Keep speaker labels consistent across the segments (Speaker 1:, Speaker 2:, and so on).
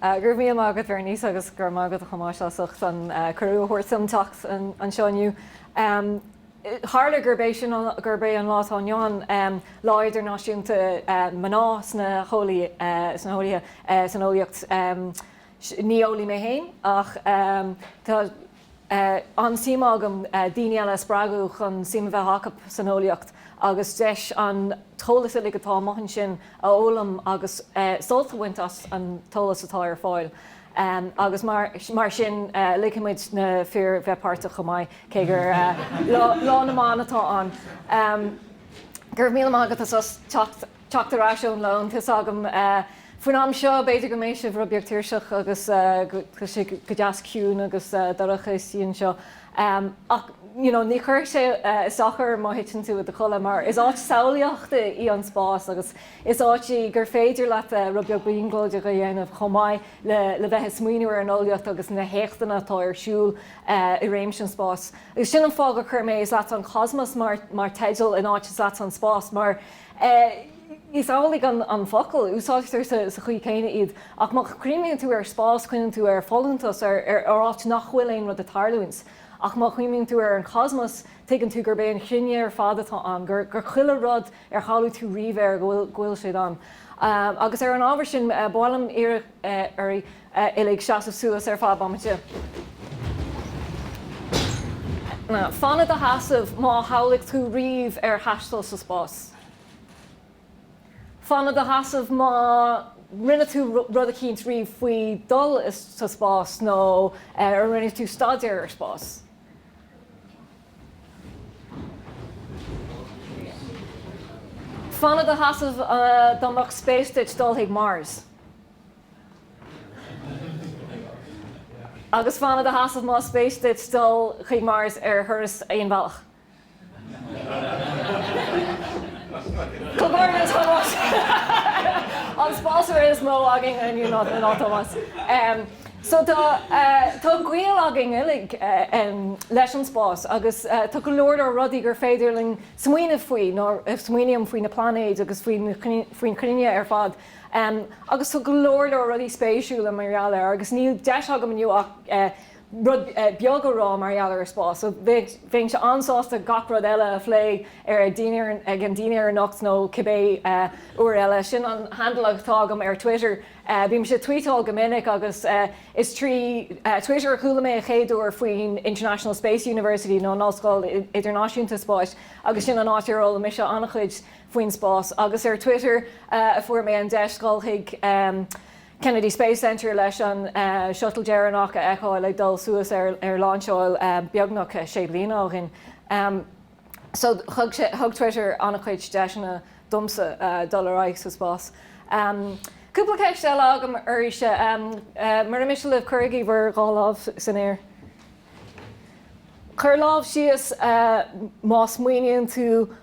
Speaker 1: Go raibh míle maith agat Bhernice agus go raibh maith agat a Thomáis as ucht an cuireadh a thabhairt dom teacht anseo inniu. Tharla gurb é sin, gurb é an lá atá inniu ann Lá Idirnáisiúnta Mná sna hEolaí, san Eolaíocht, ní eolaí mé féin ach tá, an-suim agam daoine eile a spreagadh chun suim a bheith acu san eolaíocht agus deis an t-eolas uilig atá amuigh ansin a fhoghlaim agus sult a bhaint as an t-eolas atá ar fáil agus mar sin ligfidh muid na fir bheith páirteach chomh maith cé gur Lá na mBan atá ann. Go raibh míle maith agat as teacht. teacht ar ais ón lón. Tá's agam. Faoin am seo, b'fhéidir go mbeidh sibh rud beag tuirseach agus tá sé go deas ciúin agus dorcha istigh anseo. Ach you know, ní chuirfidh sé as ná dochar má thiteann tú i do chodladh mar is áit samhlaíochta í an spás agus is áit í gur féidir leat rud beag brionglóideach a dhéanamh chomh maith le bheith ag smaoineamh ar an eolaíocht agus na héachtanna atá ar siúl i réimse an spáis. Agus sin an fáth gur chuir mé Is leatsa an Cosmos mar theideal in áit Is leatsa an Spás mar Is amhlaidh an focal, úsáidtear sa chaoi céanna iad, ach má chuimhníonn tú ar spás cuimhníonn tú ar folúntas, ar áit nach bhfuil aon rud ag tarlúint. Ach má chuimhníonn tú ar an cosmos tuigeann tú gurb é an chruinne ar fad atá ann, gur chuile rud ar shamhlaigh tú riamh air, go bhfuil siad ann. Agus ar an ábhar sin, ba mhaith liom iarraidh oraibh uilig seasamh suas ar feadh bomaite. Fan i do sheasamh má shamhlaigh tú riamh ar thaisteal sa spás. Fan i do sheasamh má rinne tú rud eicínt riamh faoi dhul sa spás nó ar rinne tú staidéar ar spás. Fan i do sheasamh dá mbeadh spéis agat dul chuig Mars. Agus fan i do sheasamh más spéis duit dul chuig Mars ar thuras aon bhealach. Comhghairdeas Tomás! An spásaire is mó againn inniu ná Tomás. So tá gaol againn uilig leis an spás agus tá go leor leor rudaí gur féidir linn smaoineamh faoi nó a smaoiním faoi na plainéid agus faoin chruinne ar fad. Agus tá go leor leor rudaí spéisiúla mar gheall air agus níl deis agam inniu ach rud beag a rá mar gheall ar spás. So bheinnse an-sásta gach rud eile a phlé ar an dinnéar, ag an dinnéar anocht nó cibé uair eile. Sin an handle atá agam ar Twitter. Bímse ag tvuíteáil go minic agus is trí Twitter a chuala mé a chéaduair faoin International Space University nó an Ollscoil Idirnáisiúnta Spáis agus sin an áit ar fhoghlaim mise an-chuid faoin spás. Agus ar Twitter a fuair mé an deis dhul chuig Kennedy Space Centre leis an Shuttle deireanach a fheiceáil ag dul suas ar lainseáil beagnach sé bliana ó shin. So thug Twitter an-chuid deiseanna domsa dul ar aghaidh sa spás. Cúpla ceist eile agam arís. Mura miste libh, cuirigí bhur dhá lámh san aer. Cuir lámh síos más smaoiníonn tú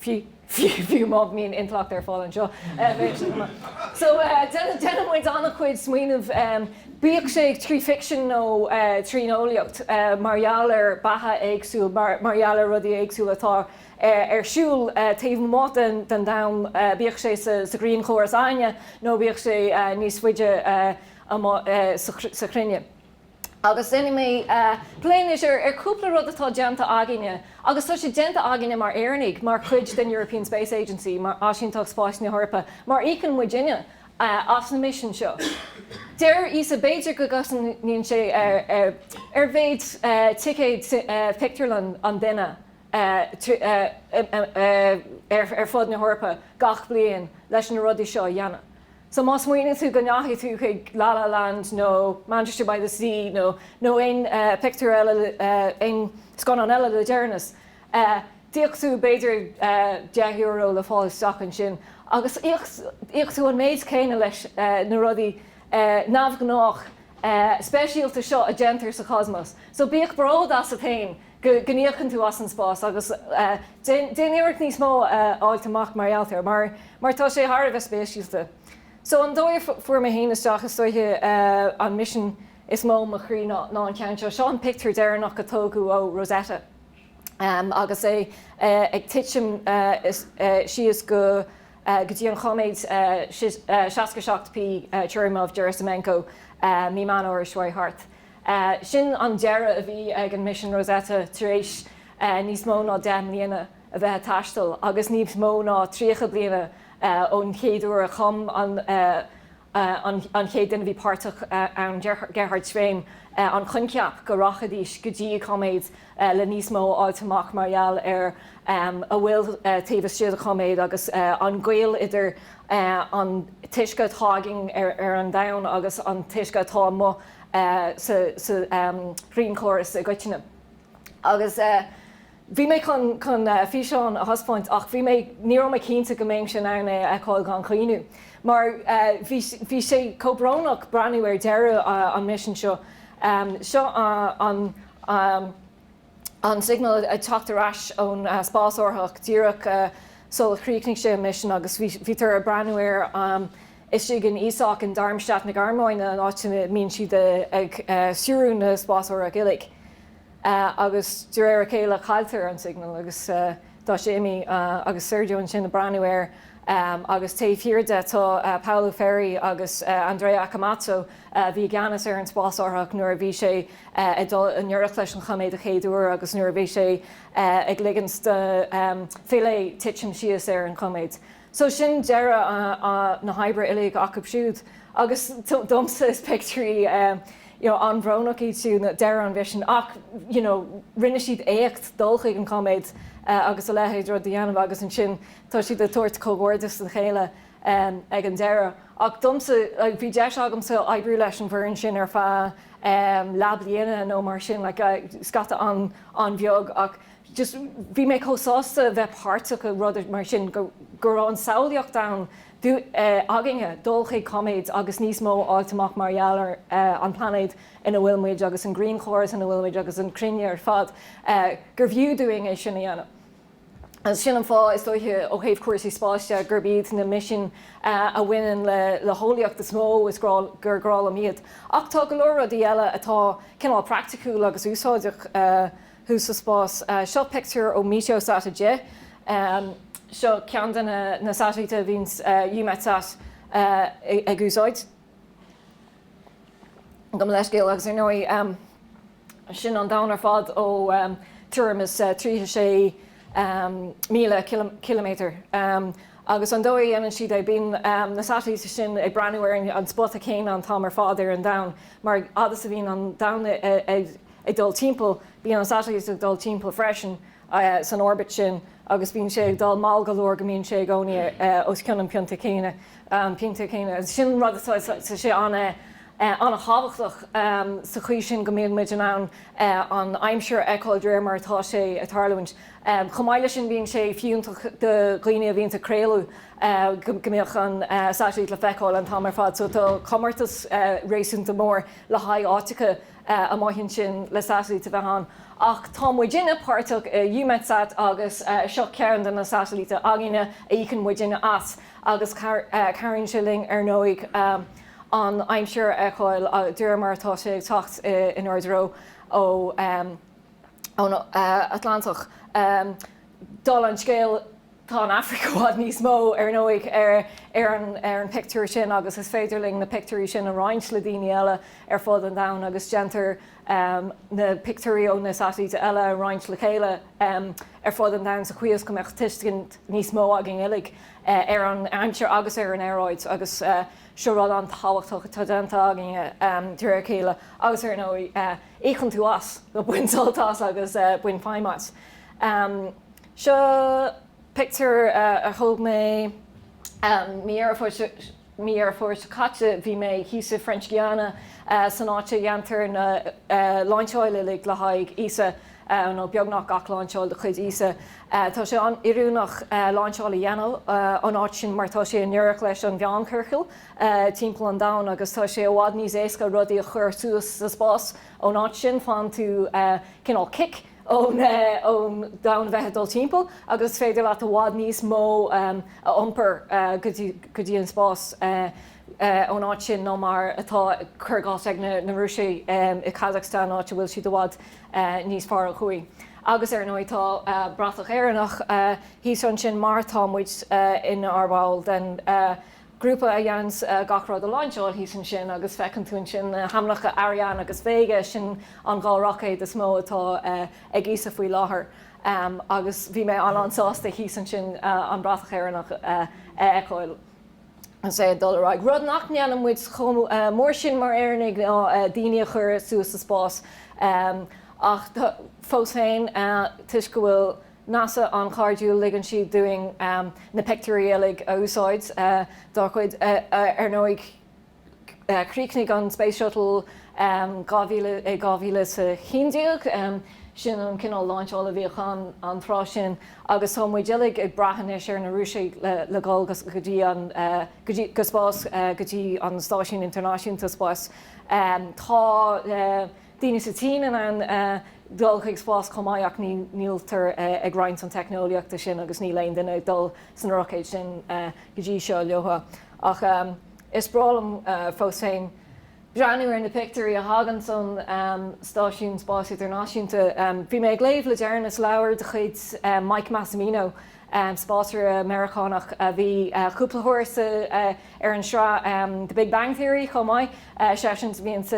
Speaker 1: fiú má bhíonn intleacht ar fáil anseo. So déanann muid an-chuid smaoinimh, bíodh sé trí ficsean nó trín eolaíocht, mar gheall ar beatha éagsúil, mar gheall ar rudaí éagsúla atá ar siúl taobh amuigh den domhan, bíodh sé sa ghrianchóras againne nó bíodh sé níos faide amuigh sa chruinne. Agus déanfaidh mé plé anois ar chúpla rud atá déanta againne, agus tá siad déanta againne mar Éireannaigh, mar chuid den European Space Agency, mar Áisínteacht Spáis na hEorpa, mar íocann muidne as na misin seo. Deir ESA b'fhéidir go gcosnaíonn sé ar mhéid ticéad phictiúrlann an duine ar fud na hEorpa gach bliain leis na rudaí seo a dhéanamh. So má smaoiníonn tú go ndeachaigh tú chuig La La Land nó Manchester by the Sea nó aon pictiúr eile aon scannán eile le deireanas, d'íoc tú b'fhéidir deich euro le fáil isteach ansin agus íocann tú an méid céanna leis na rudaí neamhghnách speisialta seo a dhéantar sa Chosmos. So bíodh bród asat fhéin go n-íocann tú as an spás agus déan iarracht níos mó a fháilt amach mar gheall air mar mar tá sé thar a bheith spéisiúil. So an dóigh a fuair mé féin isteach istoiche an misean is mó mo chroí ná an ceann seo. Seo an pictiúr deireanach a tógadh ó Rosetta agus é ag titim síos go go dtí an chóiméad 67P Churyumov-Gerasimenko mí Mheán Fómhair seo thart. Sin an deireadh a bhí ag an misean Rosetta tar éis níos mó ná deich mbliana a bheith ag taisteal agus níos mó ná tríocha bliana ón chéad uair a chum an chéad duine a bhí páirteach ann, Gerhard Schwehm, an coincheap go rachaidís go dtí an cóiméad le níos mó a fháilt amach mar gheall ar a bhfuil taobh istigh de chóiméad agus an gaol idir an t-uisce atá againn ar an domhan agus an t-uisce atá amuigh. sa ghrianchóras i gcoitinne. Agus bhí mé chun físeán a thaispeáint ach bhí mé, ní raibh mé cinnte go mbeinnse in ann é a fheiceáil gan chaoineadh. Mar bhí sé chomh brónach breathnú ar deireadh an misin seo. Seo an. an signal ag teacht ar ais ón spásárthach díreach sular chríochnaigh sé a misean agus bhítear ag breathnú air istigh in ESOC in Darmstadt na Gearmáine, an áit ina mbíonn siad ag stiúradh na spásárthach uilig. Agus de réir a chéile cailltear an signal agus Tá sé imithe agus Sergio ansin ag breathnú air agus taobh thiar de tá Paolo Ferri agus Andrea Accomazzo, a bhí i gceannas ar an spásárthach nuair a bhí sé ag dul i ngiorracht leis an chóiméad an chéad uair agus nuair a bhí sé ag ligint do Philae titim síos ar an chóiméad. So sin deireadh na hoibre uilig acub siúd. Agus domsa is pictiúirí you know an-bhrónach iad siúd, deireadh an mhisin. Ach you know rinne siad éacht dul chuig an chóiméad agus a leithéid de rud a dhéanamh agus ansin tá siad ag tabhairt comhghairdeas dá chéile ag an deireadh. Ach domsa like bhí deis agamsa oibriú leis an bhfoireann sin ar feadh leathbhliana nó mar sin like scata an-bheag ach just bhí mé chomh sásta bheith páirteach i rud mar sin go go raibh an samhlaíocht ann do eh againne dul chuig cóiméad agus níos mó a fháilt amach mar gheall ar eh an plainéad ina bhfuil muid agus an grianchóras ina bhfuil muid agus an cruinne ar fad eh gurbh fhiú dúinn é sin a dhéanamh. Agus sin an fáth is dóiche ó thaobh cúrsaí spáis de gurb iad na misin eh a bhaineann le le heolaíocht is mó is grá gur grá liom iad. Ach tá go leor rudaí eile atá cineál praiticiúil agus úsáideach eh thuas sa spás. Seo pictiúr ó Meteosat 10. Seo ceann de na satailítí a bhíonn Eumetsat ag úsáid. Gabh mo leithscéal agus ar ndóigh sin an domhan ar fad ó tuairim is 36,000 ciliméadar. Agus an dóigh a dhéanann siad é, bíonn na satailítí sin ag breathnú ar an spota céanna an t-am ar fad ar an domhan, mar fhad is a bhíonn an domhan ag. ag dul timpeall, bíonn an satailít ag dul timpeall freisin san orbit sin agus bíonn sé ag dul mall go leor go mbíonn sé i gcónaí os cionn an phointe céanna. Sin an rud atá, tá sé an-tábhachtach sa chaoi sin go mbeadh muid in ann an aimsir a fheiceáil de réir mar atá sé ag tarlúint. Chomh maith leis sin, bíonn sé fiúntach do dhaoine a bhíonns ag craoladh go mbeadh an satailít le feiceáil an t-am ar fad so tá comórtas réasúnta mór le haghaidh áiteacha maithe ansin le satailít a bheith ann, ach tá muidinne páirteach i Eumetsat agus seo ceann de na satailítí againne a íocann muidinne as agus cabhraíonn sé linn ar ndóigh an aimsir a fheiceáil de réir mar atá sé ag teacht in ár dtreo ón Atlantach. Dála an scéil. Tá an Afraic i bhfad níos mó, ar ndóigh, ar an pictiúr sin agus is féidir linn na pictiúirí sin a roinnt le daoine eile ar fud an domhain agus déantar na pictiúirí ó na satailíte eile a roinnt le chéile ar fud an domhain sa chaoi is go mbeadh tuiscint níos mó againn uilig ar an aimsir agus ar an aeráid agus seo rud an-tábhachtach atá déanta againn de réir a chéile agus ar ndóigh, íocann tú as nó bain sult as agus bain feidhm as. Seo pictiúr a thóg mé mí Dheireadh Fómhair seo caite. Bhí mé thíos i French Guiana, san áit a dhéantar na láinseáil uilig le haghaidh ESA, nó beagnach gach láinseáil de chuid ESA. Tá sé an-oiriúnach láinseáil a dhéanamh ón áit sin mar tá sé i ngiorracht leis an mheánchiorcal timpeall an domhain agus tá sé i bhfad níos éasca rudaí a chur suas sa spás ón áit sin. Faigheann tú cineál cic. ón domhan a bheith ag dul timpeall agus is féidir leat i bhfad níos mó a iompar go dtí an spás ón áit sin ná mar atá, cuir i gcás, ag na Rúisigh i Kazakhstan, áit a bhfuil siad i bhfad níos faide ó thuaidh. Agus, ar ndóigh, tá bratach Éireannach thíos ansin mar tá muid inár bhall den grúpa a dhéanns gach rud a láinseáil thíos ansin agus feiceann tú ansin na hainmneacha Ariane agus Vega, sin an dhá roicéad is mó atá ag ESA faoi láthair agus bhí mé an-an-sásta thíos ansin an bratach Éireannach a fheiceáil agus é ag dul ar aghaidh. Rud nach ndéanann muid chomh mór sin mar Éireannaigh ná daoine a chur suas sa spás ach fós féin toisc go bhfuil NASA an-chairdiúil, ligeann siad dúinn na pictiúirí uilig a úsáid dá gcuid. Ar ndóigh, chríochnaigh an Space Shuttle i 2011, sin an cineál lainseála a bhíodh ann an tráth sin, agus tá muid uilig ag brath anois ar na Rúisigh le dhul go spás, go dtí an Stáisiún Idirnáisiúnta Spáis. Tá. daoine sa tSín in ann dul chuig spás chomh maith ach níltear ag roinnt an teicneolaíochta sin agus níl aon duine ag dul sna roicéid sin go dtí seo leotha. Ach is breá liom fós féin breathnú ar na pictiúirí a thagann ón Stáisiún Spáis Idirnáisiúnta. Bhí mé ag léamh le deireanas leabhar de chuid Mike Massimino spásaire Meiriceánach a bhí cúpla uair ar an sraith The Big Bang Theory chomh maith, seisean a bhíonns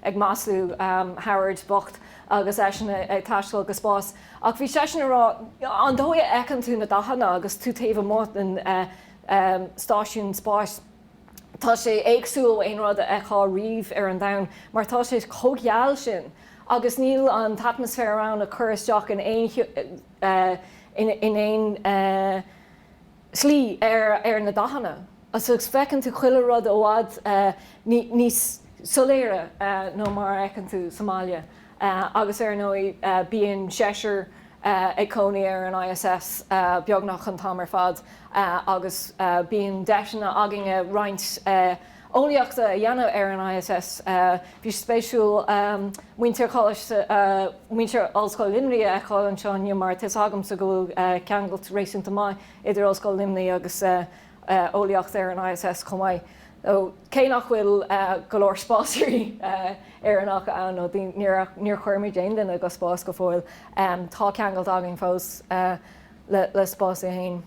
Speaker 1: ag maslú Howard bocht agus eisean ag taisteal go spás. Ach bhí seisean ag rá, an dóigh a fheiceann tú na dathanna agus tú taobh amuigh den stáisiún spáis, tá sé éagsúil ó aon rud a fheictheá riamh ar an domhan mar tá sé chomh geal sin agus níl an t-atmaisféar ann a chur isteach in aon cheo. in aon slí ar na dathanna agus feiceann tú chuile rud i bhfad níos soiléire ná mar a fheiceann tú sa mbaile agus ar ndóigh bíonn seisear ag cónaí ar an ISS beagnach an t-am ar fad agus bíonn deiseanna againne roinnt eolaíochta a dhéanamh ar an ISS. Bhí sé spéisiúil muintir Ollscoil Luimnigh a fheiceáil anseo inniu mar tá 'fhios agamsa go bhfuil ceangailt réasúnta maith idir Ollscoil Luimnigh agus eolaíocht ar an ISS chomh maith. Cé nach bhfuil go leor spásairí Éireannacha ann, nó níor chuir muid aon duine go spás go fóill, tá ceangailt againn fós le spás é féin.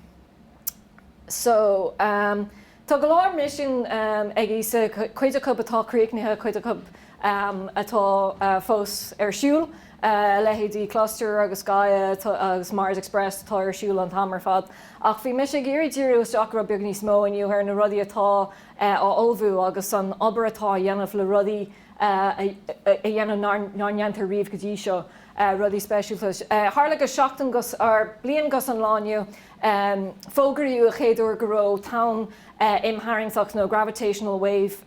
Speaker 1: Tá go leor misin ag ESA, cuid acu atá críochnaithe, cuid acu atá fós ar siúl, a leithéidí Cluster agus Gaia agus Mars Express atá ar siúl an t-am ar fad. Ach bhí mise ag iarraidh díriú isteach rud beag níos mó inniu ar na rudaí atá á ullmhú agus an obair atá á dhéanamh le rudaí a dhéanamh nár ndearnadh riamh go dtí seo, rudaí speisialta. Tharla go seachtain, bliain go dtí an lá inniu. Fógraíodh an chéad uair go raibh tonn imtharraingteach nó gravitational wave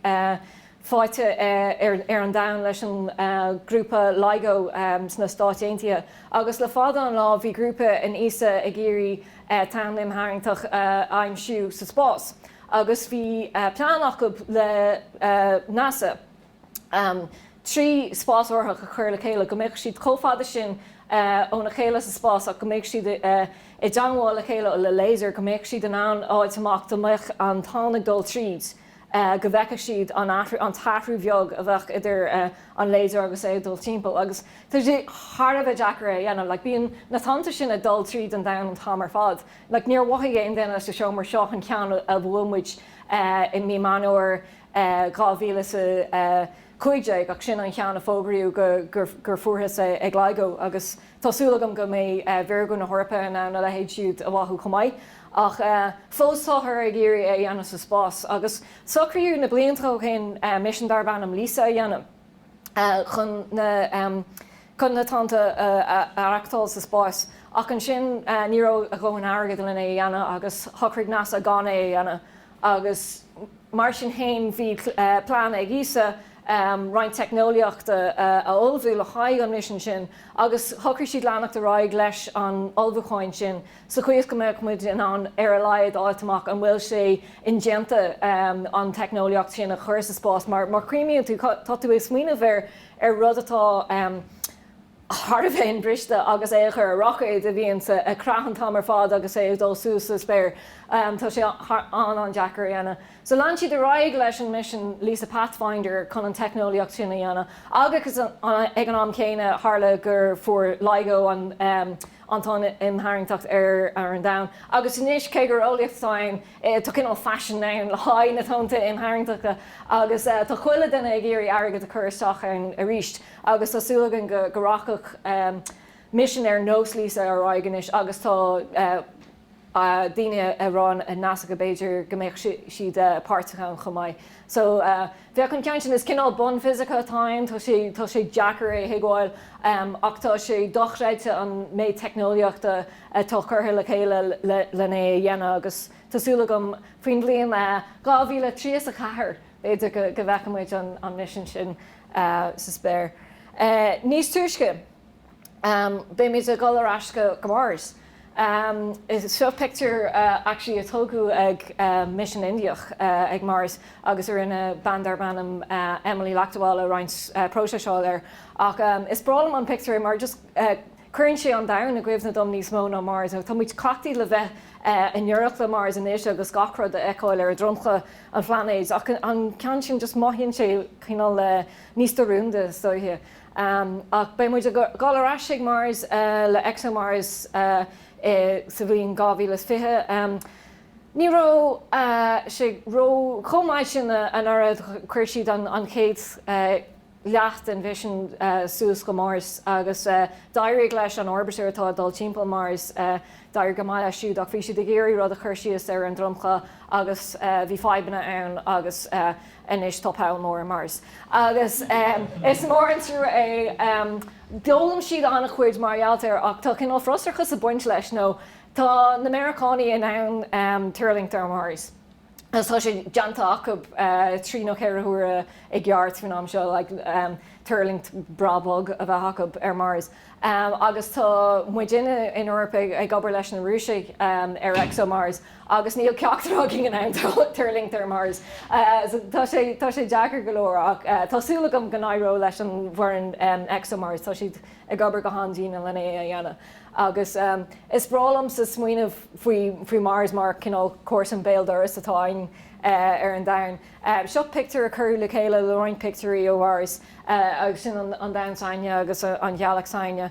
Speaker 1: faighte ar an Domhan leis an grúpa LIGO sna Stáit Aontaithe, agus le fada an lá bhí grúpa in ESA ag iarraidh tonn imtharraingteach a aimsiú sa spás, agus bhí plean acu le NASA. trí spásárthach a chur le chéile, go mbeadh siad chomh fada sin óna chéile sa spás ach go mbeadh siad i dteangmháil le chéile le laser, go mbeadh siad in ann fháilt amach dá mbeadh an tonn ag dul tríd, go bhfeicfeadh siad an t-athrú bheag a bheadh idir an laser agus é ag dul timpeall. Agus tá sé thar a bheith deacair é a dhéanamh, like bíonn na tonnta sin ag dul tríd an domhan an t-am ar fad. Like níor mhothaigh aon duine sa seomra seo an ceann a bhuail muid i mí Meán Fómhair, 2015, ach sin an cheann a fógraíodh gur fuarthas é ag LIGO, agus tá súil agam go mbeidh Virgo na hEorpa in ann a leithéid siúd a mhothú chomh maith. Ach fós táthar ag iarraidh é a dhéanamh sa spás, agus socraíodh na blianta ó shin misean darb ainm Lisa a dhéanamh chun na tonnta a aireachtáil sa spás. Ach ansin ní raibh a ndóthain airgid len é a dhéanamh, agus shocraigh NASA gan é a dhéanamh. agus mar sin féin bhí plean ag ESA roinnt teicneolaíochta a ullmhú le haghaidh an misean sin agus shocraigh siad leanacht ar aghaidh leis an ullmhúcháin sin sa chaoi is go mbeadh muid in ann ar a laghad a fháilt amach an bhfuil sé indéanta an teicneolaíocht sin a chur sa spás mar chuimhníonn tú, tá tú ag smaoineamh ar rud atá. ar a bhíonn briste agus é i gcur ar roicéad a bhíonns ag creathadh an t-am ar fad agus é ag dul suas sa spéir. Tá sé an-an-deacair a dhéanamh. So lean siad ar aghaidh leis an misean Lisa Pathfinder chun an teicneolaíocht sin a dhéanamh agus ag an am chéanna tharla gur fuair LIGO an tonn imtharraingteacht ar an domhan agus anois cé gur eolaíocht atá ann tá cineál faisin ann le haghaidh na tonnta imtharraingteachta agus tá chuile dhuine ag iarraidh airgead a chur isteach ann aríst. Agus tá súil againn go rachadh misean ar nós Lisa ar aghaidh anois agus tá daoine ag rá ar NASA go b'fhéidir go mbeadh siad páirteach ann chomh maith. So bheadh an ceann sin, is cineál bunfhisice atá ann, tá sé tá sé deacair é a thuigbheáil ach tá sé dochreidte an méid teicneolaíochta atá curtha le chéile lena é a dhéanamh agus tá súil agam faoin mbliain 2034 b'fhéidir go bhfeicfimid an misean sin sa spéir. Níos túisce, beidh muid ag dul ar ais go Mars. Seo pictiúr actually a tógadh ag misean Indiach ag Mars agus a rinne bean darb ainm Emily Lakdawala roinnt próiseáil air. Ach is breá liom an pictiúr mar just Cuireann sé an domhan i gcuimhne dom níos mó ná Mars, nó tá muid cleachtaithe le bheith i ngiorracht le Mars anois agus gach rud a fheiceáil ar dhromchla an phlainéid, ach an ceann sin, just mothaíonn sé cineál níos diúrúnda, is dóiche. Ach beidh muid a dhul ar ais chuig Mars le ExoMars sa bhliain 2020. Ní raibh sé ró chomh maith sin anuraidh, chuir siad an chéad. leath den mhisean suas go Mars agus d'éirigh leis an orbiter atá ag dul timpeall Mars, d'éirigh go maith leis siúd ach bhí siad ag iarraidh rud a chur síos ar an dromchla agus bhí fadhbanna ann agus anois tá poll mór ar Mars agus is mór an trua é. D'fhoghlaim siad an-chuid mar gheall air ach tá cineál frustrachais ag baint leis nó tá na Meiriceánaigh in ann tuirlingt ar Mars. tá sé déanta acu trí nó ceithre huaire i gceart faoin am seo, tuirlingt breá bog a bheith acu ar Mars. Agus tá muidinne in Eoraip ag obair leis na Rúisigh ar ExoMars agus níl ceachtar againn in ann tuirlingt ar Mars. Tá sé deacair go leor ach tá súil agam go n-éireoidh leis an bhfoireann ExoMars, tá siad ag obair go han-dian lena é a dhéanamh. Agus is breá liomsa smaoineamh faoi Mars mar chineál comharsan béal dorais atá againn ar an domhan. Seo pictiúr a cuireadh le chéile le roinnt pictiúirí ó Mhars, agus sin an domhan s'againne agus an ghealach s'againne.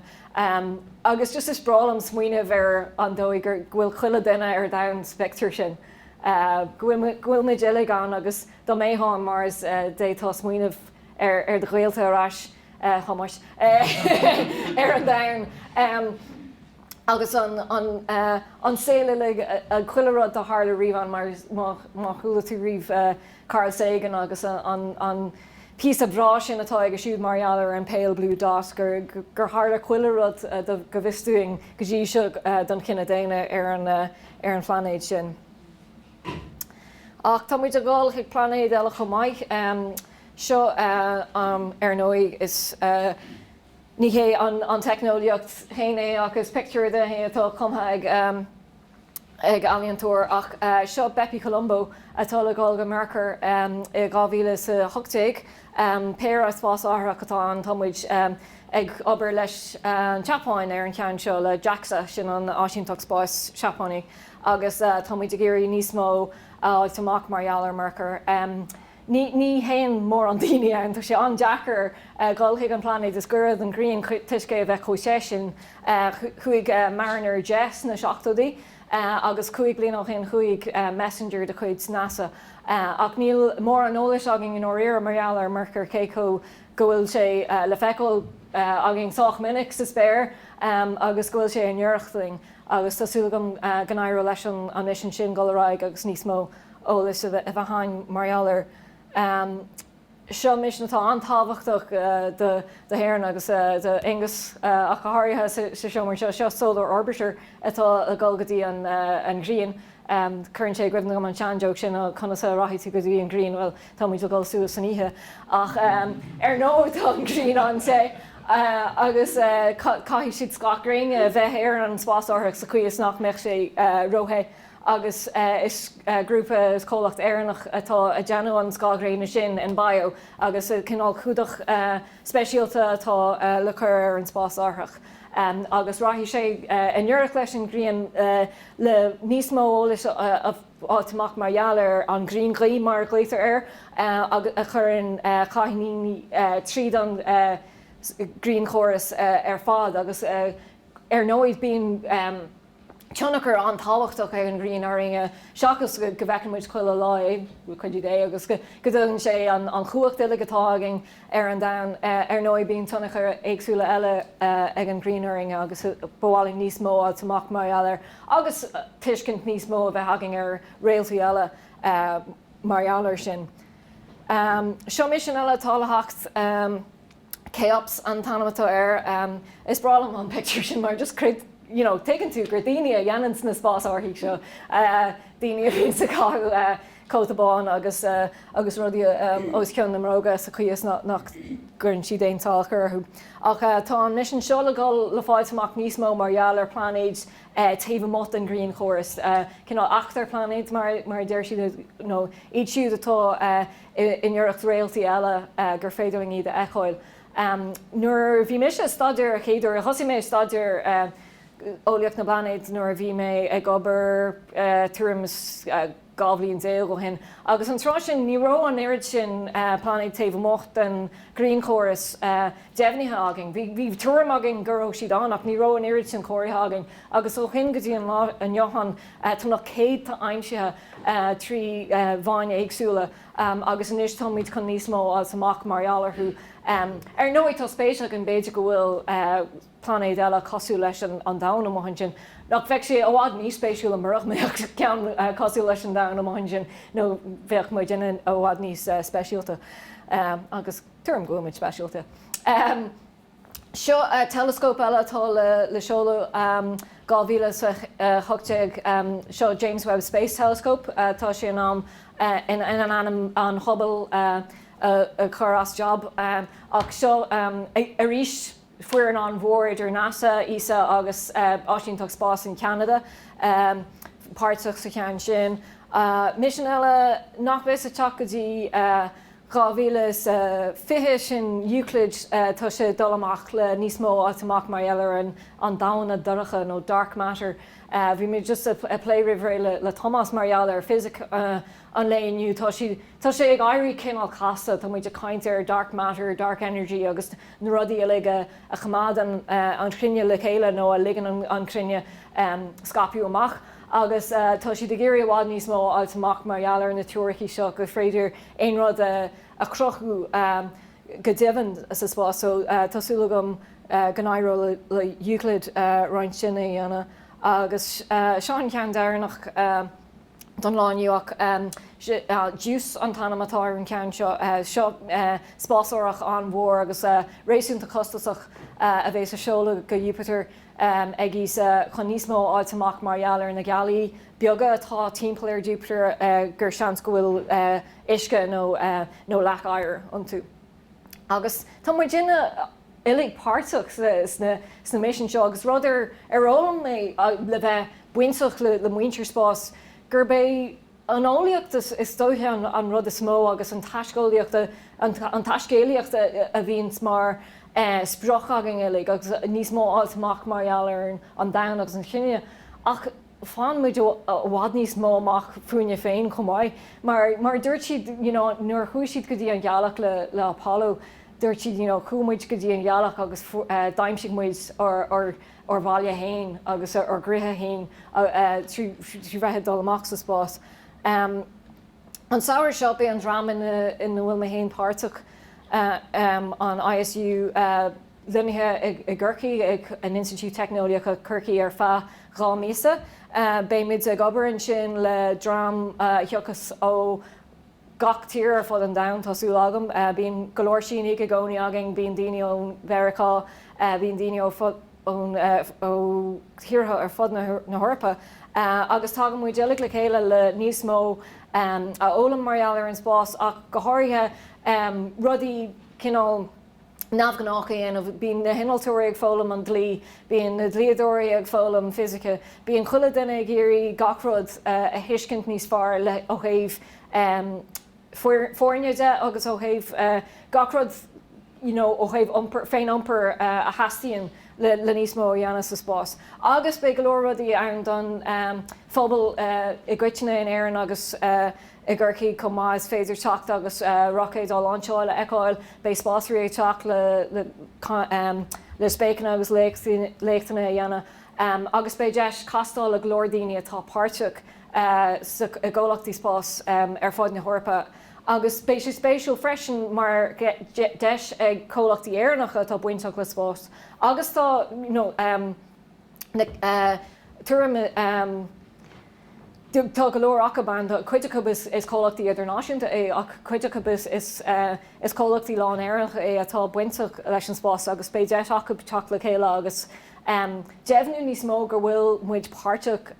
Speaker 1: Agus just is breá liom smaoineamh ar an dóigh go bhfuil chuile dhuine ar domhan sa bpictiúr sin, go bhfuil muid uilig ann. Agus dá mbeifeá ar Mars, d'fhéadfá smaoineamh ar do ghaolta ar ais. Thomás ar an domhan agus an saol uilig, chuile rud a tharla riamh ann, má chuala tú riamh Carl Sagan agus an píosa breá sin atá aige siúd mar gheall ar an pale blue dot, gur tharla chuile rud, go bhfios dúinn go dtí seo, don chine daonna ar an phláinéad sin. Ach tá muid ag dhul chuig pláinéid eile chomh maith. seo. Ar ndóigh, ní hé an teicneolaíocht féin é ach is pictiúr dhe é atá cumtha ag ealaíontóir. Ach seo Bepi Colombo atá le dhul go Mearcair i 2018. Péire spásárthach atá ann. Tá muid ag obair leis an tSeapáin ar an cheann seo, le Jaxa, sin an Áisínteacht Spáis Seapáine, agus tá muid ag iarraidh níos mó a fháilt amach mar gheall ar Mearcair. Ní théann mórán daoine ann. Tá sé an-deacair dhul chuig an bpláinéad is gaire don ghrian toisc é a bheith chomh te sin. Chuaigh Mariner 10 sna seachtóidí agus cúig bliana ó shin chuaigh Messenger de chuid NASA. Ach níl mórán eolais againn i ndáiríre mar gheall ar Mhearcair cé go bhfuil sé le feiceáil againn sách minic sa spéir agus go bhfuil sé i ngiorracht dhúinn. Agus tá súil agam go n-éireoidh leis an mhisean sin dhul ar aghaidh agus níos mó. eolas a bheith againn mar gheall air. Seo misean atá an-tábhachtach do hÉirinn agus do Aonghus ach go háirithe sa seomra anseo. Seo Solar Orbiter atá ag dul go dtí an ghrian. Cuireann sé i gcuimhne dhom an sean-joke sin conas a rachaidh tú go dtí an ghrian? Bhuel, tá muid ag dul suas san oíche ach ar ndóigh tá an ghrian an-te agus caithfidh siad scáth gréine a bheith ar an spásárthach sa chaoi is nach mbeadh sé ró-the. agus is grúpa, is comhlacht Éireannach atá ag déanamh an scáthghréine sin, Enbio, agus cineál cumhdach speisialta atá le cur ar an spásárthach agus rachaidh sé i ngiorracht leis an ghrian le níos mó eolais a fháilt amach mar gheall ar an ghrianghaoth, mar a glaoitear air, a chuireann cáithníní tríd an ghrianchóras ar fad agus ar ndóigh bíonn. tionchar an-tábhachtach ag an ghrian orainn, seachas go bhfeiceann muid chuile lá é, le cuidiú Dé, agus go dtugann sé an chumhacht uilig atá againn ar an domhan. Ar ndóigh, bíonn tionchair éagsúla eile ag an ghrian orainn, agus ba mhaith linn níos mó a fháilt amach mar gheall air, agus tuiscint níos mó a bheith againn ar réaltaí eile mar gheall air sin. Seo misean eile atá le theacht. Cheops an t-ainm atá air. Is breá liom an pictiúr sin mar just creid, you know, tuigeann tú gur daoine a dhéananns na spásárthaí seo, daoine a bhíonns ag caitheamh cóta bán agus agus rudaí os cionn na mbróga sa chaoi is nach gcuireann siad aon tsalachar orthu. Ach tá an misean seo le dhul le fáilt amach níos mó mar gheall ar pláinéid taobh amuigh den ghrianchóras, cineál eachtarphláinéid mar a deir siad, nó iad siúd atá, i ngiorracht réaltaí eile gur féidir linn iad a fheiceáil. Nuair a bhí mise ag staidéar a chéaduair, thosaigh mé ag staidéar eolaíocht na bpláinéad nuair a bhí mé ag obair tuairim is dhá bhliain déag ó shin, agus an tráth sin ní raibh an oiread sin pláinéad taobh amuigh den ghrianchóras deimhnithe againn. Bhí tuairim againn go raibh siad ann ach ní raibh an oiread sin comhairthe againn agus ó shin go dtí an lá inniu ann Tá na céadta aimsithe trí mheáin éagsúla agus anois táimid chun níos mó a fháilt amach mar gheall orthu. Ar ndóigh, tá spéis againn, b'fhéidir go bhfuil pláinéid eile cosúil leis an Domhan amuigh ansin. Nach bheadh sé i bhfad níos spéisiúla murach mbeadh ceann cosúil leis an Domhan amuigh ansin, nó bheadh muidne i bhfad níos speisialta, agus tuairim go bhfuil muid speisialta. Seo teileascóp eile atá le seoladh 2018, seo James Webb Space Telescope. Tá sé in ann in ainm an Hubble a chur as jab, ach seo arís foireann an-mhór idir NASA, ESA agus Áisínteacht Spáis in Ceanada páirteach sa cheann sin. Misean eile nach bheas ag teacht go dtí 2020, sin Euclid, tá sé ag dul amach le níos mó a fháilt amach mar gheall ar an damhna dorcha nó dark matter. Bhí mé just ag plé roimh ré le Tomás mar gheall ar fisic an lae inniu, tá sí, tá sé ag éirí cineál casta, tá muid ag caint ar dark matter, dark energy agus na rudaí uilig a choimeádann an chruinne le chéile nó a ligeann an chruinne scaipeadh amach agus tá siad ag iarraidh i bhfad níos mó a fháilt amach mar gheall ar na teoiricí seo gur féidir aon rud a chruthú go deimhin sa spás so tá súil agam go n-éireoidh le Euclid roinnt sin a dhéanamh agus seo an ceann deireanach don lá inniu ach Juice an t-ainm atá ar an gceann seo. Seo spásárthach an-mhór agus réasúnta costasach a bheas á seoladh go Iúpatar. ag ESA chun níos mó a fháilt amach mar gheall ar na gealaí beaga atá timpeall ar Jupiter gur seans go bhfuil uisce nó leac oighir iontu. Agus tá muidne uilig páirteach sna misin seo agus rud ar fhoghlaim mé le bheith bainteach le muintir spáis gurb é An eolaíocht is dóiche an rud is mó agus an taisceolaíocht, an taiscéalaíocht a bhíonn mar sprioc againn uilig agus níos mó a fháilt amach mar gheall ar an domhan agus an chine ach faigheann muid i bhfad níos mó amach fúinne féin chomh maith. Mar a dúirt siad you know nuair a chuaigh siad go dtí an ghealach le le Apollo dúirt siad you know chuaigh muid go dtí an ghealach agus d'aimsigh muid ár ár ár mbaile fhéin agus ár gcroíthe fhéin trí bheith ag dul amach sa spás. An samhradh seo, beidh an dream ina bhfuil mé fhéin páirteach, an ISU, lonnaithe i gCorcaigh ag an Institiúid Teicneolaíochta Chorcaí ar feadh dhá mhíosa. Beidh muid ag obair ansin le dream a thiocfas ó gach tír ar fud an domhain, tá súil agam. Bíonn go leor Sínigh i gcónaí againn, bíonn daoine ón Mheiriceá, bíonn daoine ó thíortha ar fud na hEorpa agus tagann muid uilig le chéile le níos mó a fhoghlaim mar gheall ar an spás ach go háirithe, rudaí cineál. neamhghnách a dhéanamh. Bíonn na hinnealtóirí ag foghlaim an dlí, bíonn na dlíodóirí ag foghlaim fisice, bíonn chuile dhuine ag iarraidh gach rud a thuiscint níos fearr ó thaobh foirne de agus ó thaobh gach rud you know ó thaobh iompair, féin-iompair a theastaíonn le níos mó a dhéanamh sa spás. Agus beidh go leor rudaí ann don phobal i gcoitinne in Éirinn agus. I gCorcaigh chomh maith is féidir teacht agus roicéid á lainseáil a fheiceáil. Beidh spásairí ag teacht le spéaclaí agus léachtanna a dhéanamh agus beidh deis castáil le go leor daoine atá páirteach i gcomhlachtaí spás ar fud na hEorpa. Agus beidh sé spéisiúil freisin mar deis ag comhlachtaí Éireannacha atá bainteach le spás agus atá. na tuairim na tá go leor acub ann cuid acub is comhlachtaí idirnáisiúnta é ach cuid acub is comhlachtaí lán Éireannacha é atá bainteach leis an spás agus beidh deis acu teacht le chéile agus deimhniú níos mó go bhfuil muid páirteach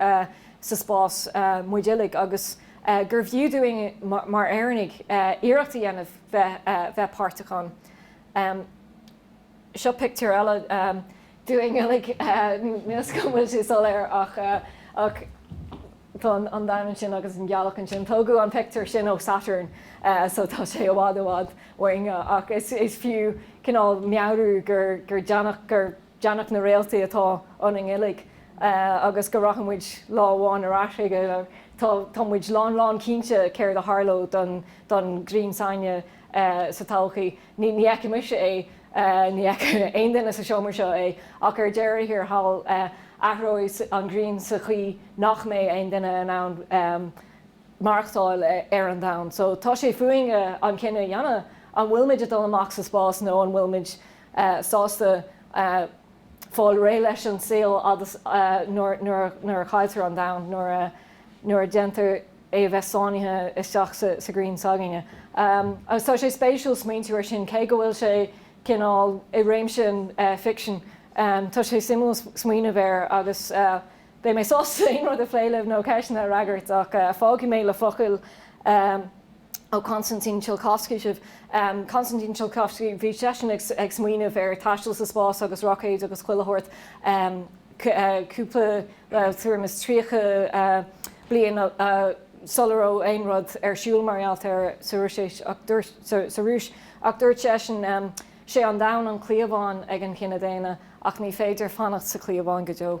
Speaker 1: sa spás muid uilig agus gurbh fhiú dúinn mar Éireannaigh iarracht a dhéanamh bheith páirteach ann. Seo pictiúr eile dínn uilig, níl a fhios agam an bhfuil sé soiléir? Ach tá an domhan ansin agus an ghealach ansin. Tógadh an pictiúr sin ó Saturn so tá sé i bhfad i bhfad uainn ach is fiú cineál meabhrú gur deannach na réaltaí atá ionainn uilig agus go rachaidh muid lá amháin ar ais chuige. Tá muid lán lán cinnte céard a tharlóidh don Ghrian s'againne sa todhchaí. Ní fheicfidh mise é, ní fheicfidh aon duine sa seomra seo é, ach ar deireadh thiar thall athróidh an ghrian sa chaoi nach mbeidh aon duine in ann maireachtáil ar an domhan. So tá sé fúinn an cinneadh a dhéanamh, an bhfuil muid ag dul amach sa spás nó an bhfuil muid sásta fáil réidh leis an saol agus nuair a chailltear an domhan, nuair a dhéantar. a bheith sáinnithe isteach sa ghrian s'againne. Agus tá sé spéisiúil smaointiú air sin, cé go bhfuil sé cineál i réimse an fiction, tá sé suimiúil smaoineamh air agus beidh mé sásta aon rud a phlé libh nó ceisteanna a fhreagairt ach fágfaidh mé le focail ó Konstantin Tsiolkovsky sibh. Konstantin Tsiolkovsky, bhí seisean ag smaoineamh ar thaisteal sa spás agus roicéid agus chuile shórt cúpla, bhuel, tuairim is tríocha, bliain sula raibh aon rud ar siúl mar gheall air sa Rúis ach dúirt seisean, Sé an domhan an cliabhán ag an chine daonna ach ní féidir fanacht sa chliabhán go deo.